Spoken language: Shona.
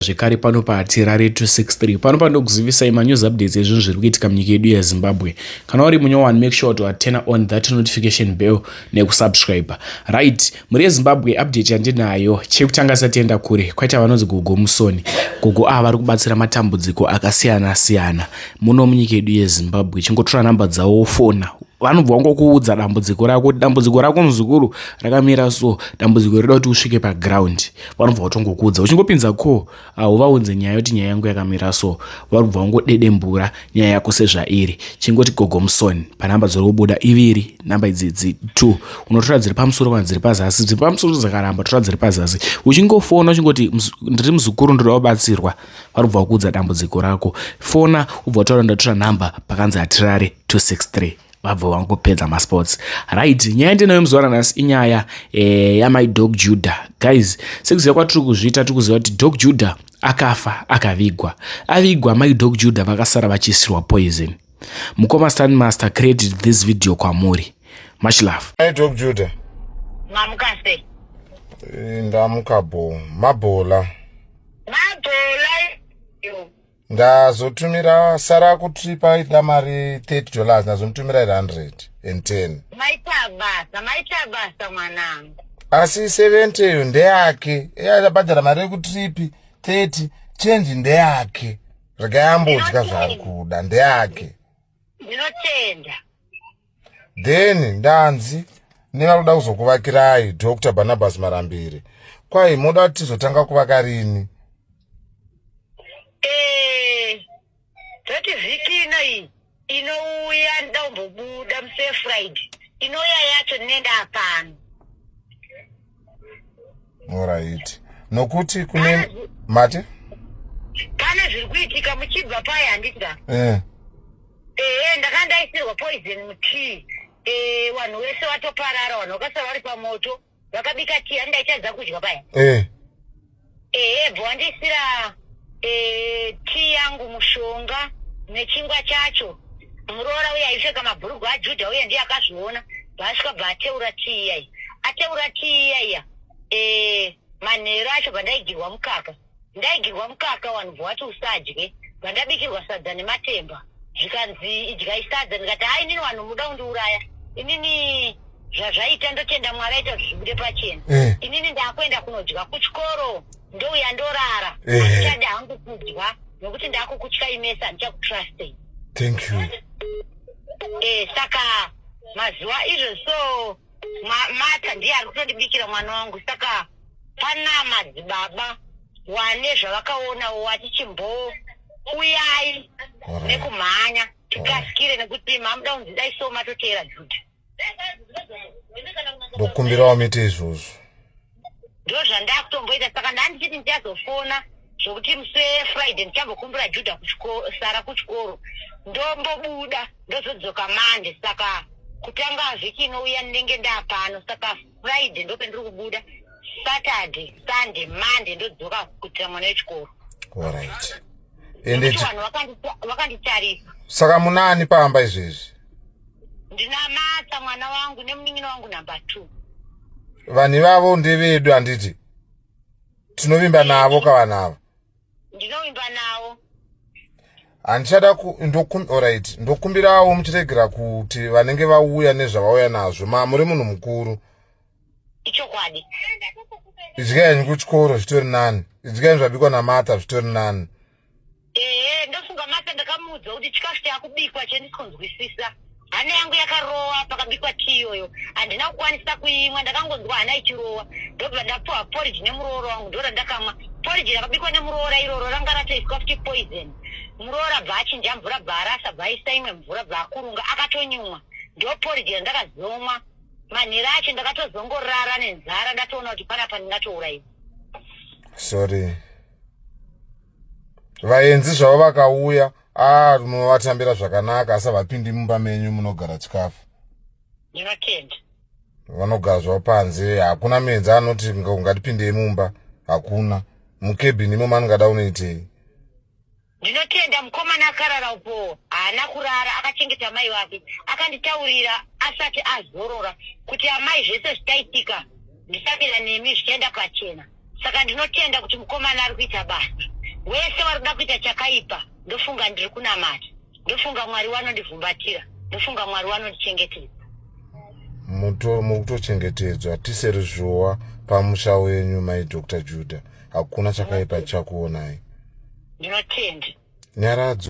zvekare pano patirare 263 pano pandokuzivisai manews updates ezvinhu zviri kuitika munyika yedu yezimbabwe kana uri munyowani make sure to atena on that notification bell nekusubscribe right mhuri yezimbabwe update yandinayo chekutanga satienda kure kwaita vanonzi gogo musoni gogo ava vari kubatsira matambudziko akasiyana siyana muno munyika yedu yezimbabwe chingotora nhamba dzawo wofona vanobva wangokuudza dambudziko rako kuti dambudziko rako muzukuru rakamira so dambudziko rida kuti usvike paground vanobva vatongokuudza uchingopinza ko hauvaunze nyaya yoti nyaya yangu yakamira so vanobva vangodedembura nyaya yako sezvairi chingoti gogomusoni panhamba dziri kubuda iviri nhamba idzidzi t unotora dziri pamusoro kana dziri pazasi dziri pamusoro dzakaramba tora dziri pazasi uchingofona uchingoti ndiri muzukuru ndoda kubatsirwa vanobva vakuudza dambudziko rako fona ubva utaura ndatora nhamba pakanzi hatirare 263 vabva vangopedza masports right nyaya ndinayo muzuva ranhasi inyaya eh, yamai dog juda guys sekuziva kwatiri kuzviita tiri kuziva kuti dog juda akafa akavigwa avigwa mai dog juda vakasara vachiisirwa poison mukoma stan master credit this video kwamuri much love mai dog juda mamuka se eh, ndamuka bo mabhola mabhola ndazotumira sara kuti paida mari 30 dollars ndazomutumira 110 maita basa maita basa mwanangu asi 70 iyo ndeyake eabhadhara mari yekutripi 30 chenji ndeyake regai ambodya zvaari kuda ndeyake ndinotenda then ndanzi nevanoda kuzokuvakirai dr barnabas marambiri kwai moda kuti tizotanga kuvaka rini eh, tati vhiki inoi inouya nda kumbobuda musefriday inoya yacho nenda pano Alright. Nokuti kune mate pane zviri kuitika muchibva paye handida eh. ehe ndakanga ndaisirwa poison mutii eh, vanhu wese vatoparara vanhu vakasara vari pamoto vakabika tii handaichadza kudya paya eh. Ehe bho wandiisira eh, tea yangu mushonga nechingwa chacho. Muroora uye aipfeka mabhurugwa aJudha uye ndiye akazviona. Bhaasvika bva ateura tea iya iya. Ateura tea iya iya. Eh, manheru acho bvandaigirwa mukaka. Ndaigirwa mukaka wanhu bvo wati usadye. Bvandabikirwa sadza nematemba. zvikanzi idyai sadza ndikati ha inini vanhu muda kundiuraya inini zvazvaita ndotenda mwari aita zvibude pachena eh. inini ndakuenda kunodya kuchikoro ndouya ndorara eh. handichadi hangu kudya nokuti ndakukutya imesa handichakutrustei thank you eh, saka mazuva izvo so mata ndiye ari kutondibikira mwana wangu saka pana madzibaba wane zvavakaona wati chimboo uyai nekumhanya tikasikire nekuti mamuda kunzi dai so matoteera juda ndokumbirawo mite izvozvo ndozvandakutomboita saka ndandichiti ndichazofona zvokuti musi wefriday ndichambokumbira juda sara kuchikoro ndombobuda ndozodzoka mande saka kutanga vhiki inouya ndinenge ndaapano saka friday ndope ndiri kubuda saturday sunday mande ndodzoka kuitira mwana wechikoro vanhu vakanditarisa saka munaani pamba izvezvi ndinamatsa mwana wangu nemunin'ina wangu number two vanhu ivavo ndevedu handiti tinovimba navo ka vanhu ava ndinovimba navo handichada orit ndokumbirawo muchiregera kuti vanenge vauya nezvavauya nazvo ma muri munhu mukuru ichokwadi idyaini kuchikoro zvitori nani idyaini zvabikwa namata zvitori nani mm. ehe ndofunga mata ndakamuudza kuti chikafu chakubikwa chendikonzwisisa hana yangu yakarowa pakabikwa tii iyoyo handina kukwanisa kuimwa ndakangonzwa hana ichirowa ndobva ndapuwa porridge nemuroora wangu ndora ndakamwa porridge rakabikwa nemuroora iroro ranga ratoiswa futi poison muroora bva achinja mvura bva arasa bva aisa imwe mvura bva akurunga akatonyumwa ndo porridge randakazomwa manhero acho ndakatozongorara nenzara ndatoona kuti panapa ndingatourayiwa sorry vaenzi zvavo vakauya ah munovatambira zvakanaka asi havapindi mumba menyu munogara chikafu nevatenda vanogara zvavo panze hakuna muenzi anoti ungatipindei mumba hakuna mukebhini imomo anongada unoitei Ndinotenda mukomana akarara uko haana kurara akachengeta mai vake akanditaurira asati azorora kuti amai zvese zvichaitika ndisabira nemi zvichaenda pachena saka ndinotenda kuti mukomana ari kuita basa wese wari kuda kuita chakaipa ndofunga ndiri kunamata ndofunga mwari wanondivhumbatira ndofunga mwari wanondichengetedza mutochengetedzwa tiseri zvowa pamusha wenyu mai dr juda hakuna chakaipa chakuonai ndinotendi nyaradzo